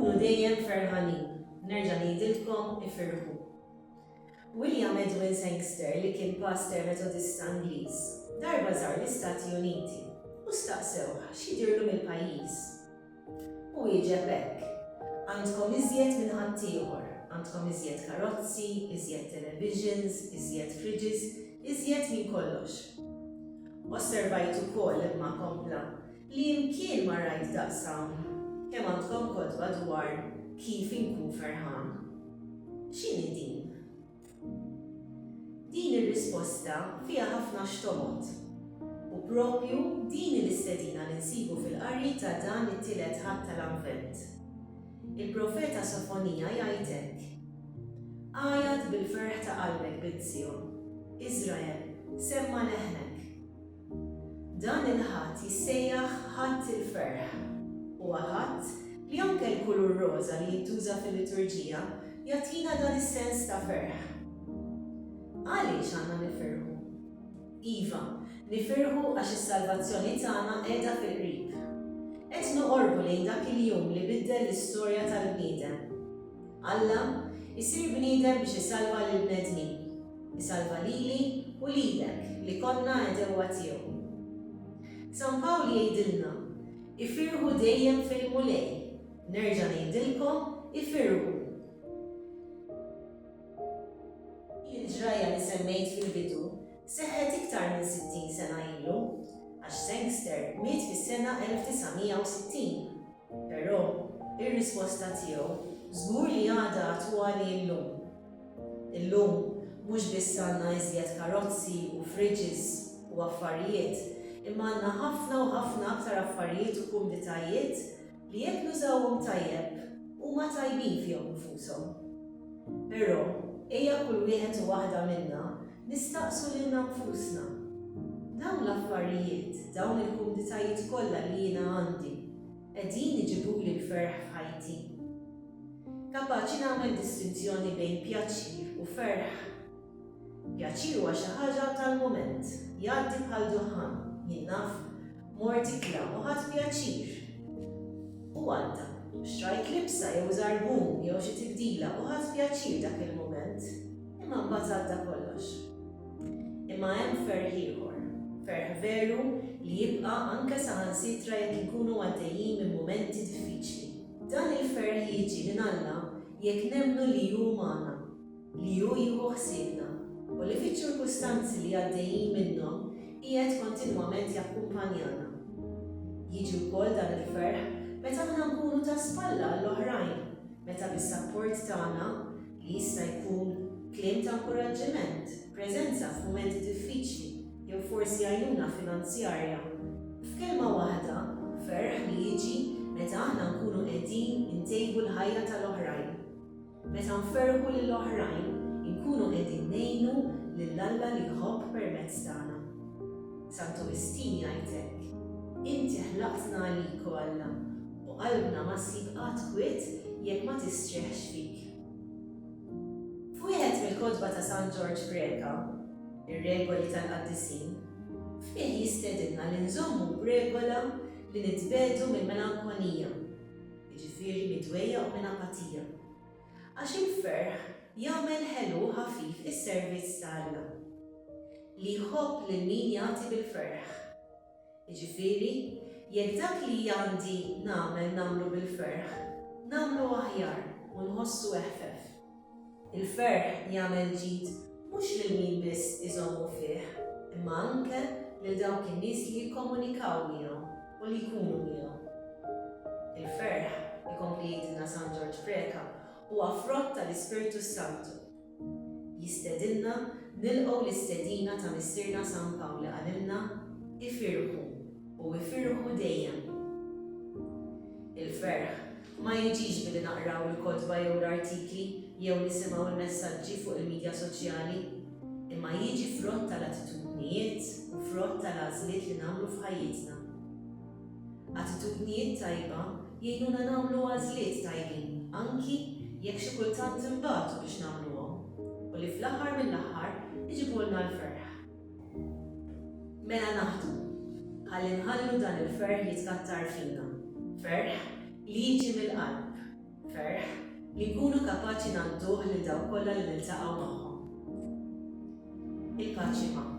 Kunu dejjem ferħanin, nerġa' ngħidilkom ifirħu. William Edwin Sangster li kien paster Metodista Ingliż, darba żar l-Istati Uniti u staqsewh x'jidirlu mill-pajjiż. Hu wieġeb hekk, Għandkom iżjed minn ħaddieħor, għandkom iżjed karozzi, iżjed televisions, iżjed fridges, iżjed minn kollox. Osservajt ukoll, imma kompla, li imkien ma rajt daqs hawn, kemm għandkom kotba dwar kif inkun ferħan. X'inhi din? Din ir-risposta fiha ħafna x'tomgħod. U proprju din hi l-istedina li nsibu fil-qari ta' dan it-tielet Ħadd tal-Avvent. Il-profeta Sofonija jgħid hekk, Għajat bil-ferħ ta' qalbek, bint Sijon! Iżrael, semma' leħnek! Dan il-Ħadd jissejjaħ Ħadd il-Ferħ. Huwa Ħadd li anke l-kulur roża li jintuża fil-liturġija jagħtina dan is-sens ta' ferħ. Għaliex għandna nifirħu? Iva, nifirħu għax is-salvazzjoni tagħna qiegħda fil-qrib. Qed noqorbu lejn dak il-jum li biddel l-istorja tal-bniedem. Alla jsir bniedem biex isalva lill-bnedmin, isalva lili u lilek li konna għedewwa tiegħu. San Pawl jgħidilna, Ifirħu dejjem fil-Mulej, nerġa' ngħidilkom, ifirħu! Il-ġrajja li semmejt fil-bidu seħħet iktar minn 60 sena ilu, għax Sangster miet fis-sena 1960. Però, ir-risposta tiegħu żgur li għadha attwali llum. Illum, mhux biss għandna iżjed karozzi u fridges u affarijiet, imma għandna ħafna u ħafna aktar affarijiet u kumditajiet li jekk nużawhom tajjeb, huma tajbin fihom infushom. Però, ejja kull wieħed u waħda minna Nistaqsu lilna nfusna, Dawn l-affarijiet, dawn il-kumditajiet kollha li jiena għandi, qegħdin iġibuli l-ferħ f'ħajti? Kapaċi nagħmel distinzjoni bejn pjaċir u ferħ? Pjaċir huwa xi ħaġa tal-mument, jgħaddi bħal duħħan, jien naf, Mort ikla u ħadt pjaċir. U għadda. Xtrajt libsa jew żarbun jew xi tibdila u ħadt pjaċir dak il-mument. Imma mbagħad għadda kollox. Imma hemm ferħ ieħor. Ferħ veru li jibqa' anke saħansitra jekk inkunu għaddejjin minn mumenti diffiċli. Dan il-ferħ jiġi minn Alla jekk nemmnu li hu magħna. li hu jieħu ħsiebna u li fiċ-ċirkustanzi li għaddejjin minnhom qiegħed kontinwament jakkumpanjana. Jiġi wkoll dan il-ferħ meta aħna nkunu ta' spalla għall-oħrajn, meta bis-sapport tagħna, li jista' jkun kliem ta' inkuraġġiment, preżenza f'mumenti diffiċli jew forsi għajnuna finanzjarja. F'kelma waħda, ferħ li jiġi meta aħna nkunu qegħdin intejbu l-ħajja tal-oħrajn. Meta nferrħu lil oħrajn, inkunu qegħdin ngħinu lil Alla li jħobb permezz tagħna. San Tumistin jgħid hekk, Inti ħlaqtna għalik, o Alla, u qalbna ma ssib qatt kwiet jekk ma tistrieħx fik. F'wieħed mill-kotba ta' San Ġorġ Greka, ir-regoli tal-qaddisin, fih jistedinna li nżommu b'regola li nitbedu mill-melankonija, jiġifieri midwejja u minn apatija, għax il-ferħ jagħmel ħelu u ħafif is-servizz ta' Alla, li jħobb lil min jagħti bil-ferħ. Jiġifieri, jekk dak li għandi nagħmel nagħmlu bil-ferħ, nagħmlu aħjar u nħossu eħfef. Il-ferħ jagħmel ġid mhux lil min biss iżommu fih, imma anke lil dawk in-nies li jikkomunikaw miegħu u li jkunu miegħu. Il-ferħ, ikompli jgħidilna San Ġorġ Preca, huwa frott tal-Ispirtu s-Santu. Jistedinna nilqgħu l-istedina ta' Missierna San Pawl li qalilna, Ifirħu. u ifirħu dejjem. Il-ferħ ma jiġix billi naqraw il-kotba jew l-artikli jew nisimgħu l-messaġġi fuq il-midja soċjali, imma jiġi frott tal-attitudnijiet u frott tal-għażliet li nagħmlu f'ħajjitna. Attitudnijiet tajba jgħinuna nagħmlu għażliet tajbin anki jekk xi kultant inbatu biex nagħmluhom u li fl-aħħar mill-aħħar iġibulna l-ferħ. Mela naħdmu, ħalli nħallu dan il-ferħ jitkattar fina. Ferħ li jiġi mill-qalb. Ferħ li nkunu kapaċi ngħadduh lil dawk kollha li niltaqgħu magħhom. Il-paċi magħkom.